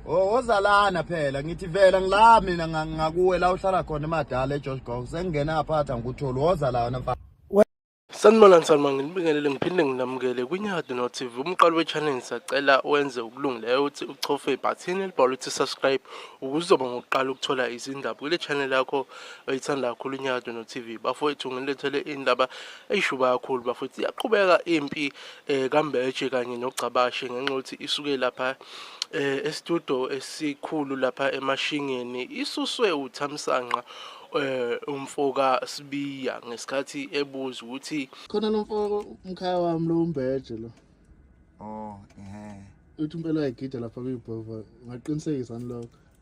Oh ozalana phela ngithi vela ngila mina ngakuwe la uhlala khona emadala eJosh Gong sengingena aphatha ngikutholi woza la wena mfana Sanibona Nsalma nginibingelele ngiphinde nginamukele kwiNyadi no TV umqalo wechannel sacela wenze ukulungileyo uthi uchofe ibhathini elibhalwe ukuthi subscribe ukuzoba ngokuqala ukuthola izindaba kule channel yakho oyithanda kakhulu iNyadi no TV bafowethu ngilethele indaba eyishuba kakhulu bafowethu iyaqhubeka impi eh, kambeje kanye nogcabashe ngenxa yokuthi isuke lapha eh estudio esikhulu lapha emashingeni isuswe uthamsanqa eh umfoka Sibiya ngesikhathi ebuza ukuthi khona lo mfoko umkhaya wami lo umbeje lo oh ehe uthi impela yagida lapha kuyibhova ngaqinisekisa nilokho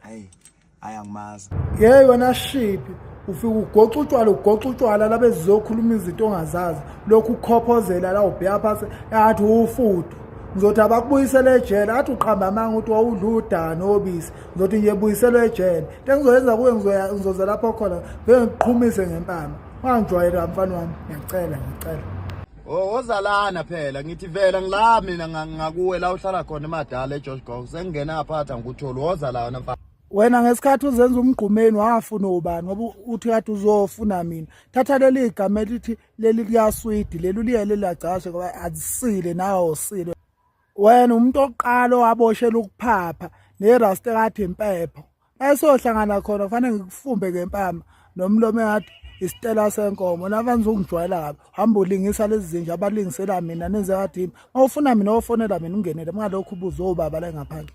hayi hayi angimazi yey wena shiphi ufike ugoxa utshwala ugoxa utshwala labe zizokhuluma izinto ongazazi lokhu ukhophozela la ubheya phansi engathi uwufudu ngizothi abakubuyisele ejele athi uqhamba amanga ukuthi wawudla udani obisi ngizothi nje buyiselwe ejele into engizoyenza kuwe ngizoza lapho khona vele ngiqhumise ngempama ungangijwayeli kamfana wami ngiyacela ngiyacela Oh ozalana phela ngithi vela ngila mina nga- ngakuwe la uhlala khona emadala eGeorge Gong sengingena aphatha ngikutholi woza la wena mfana. wena ngesikhathi uzenza umgqumeni wafuna ubani ngoba uthi kade uzofuna mina thatha leli igama elithi leli liyaswidi leli uliyele lagcashe ngoba azisile nawe usile wena umuntu oqala owaboshela ukuphapha nerasta kathi impepho mayesohlangana khona kufanele ngikufumbe ngempama nomlomo engathi isitela senkomo navani zokungijwayela kabi hamba ulingisa lezi zinja abalingisela mina nenze ngathi uma ufuna mina ofonela mina ungenele kungalokhu ubuze obaba la engaphandle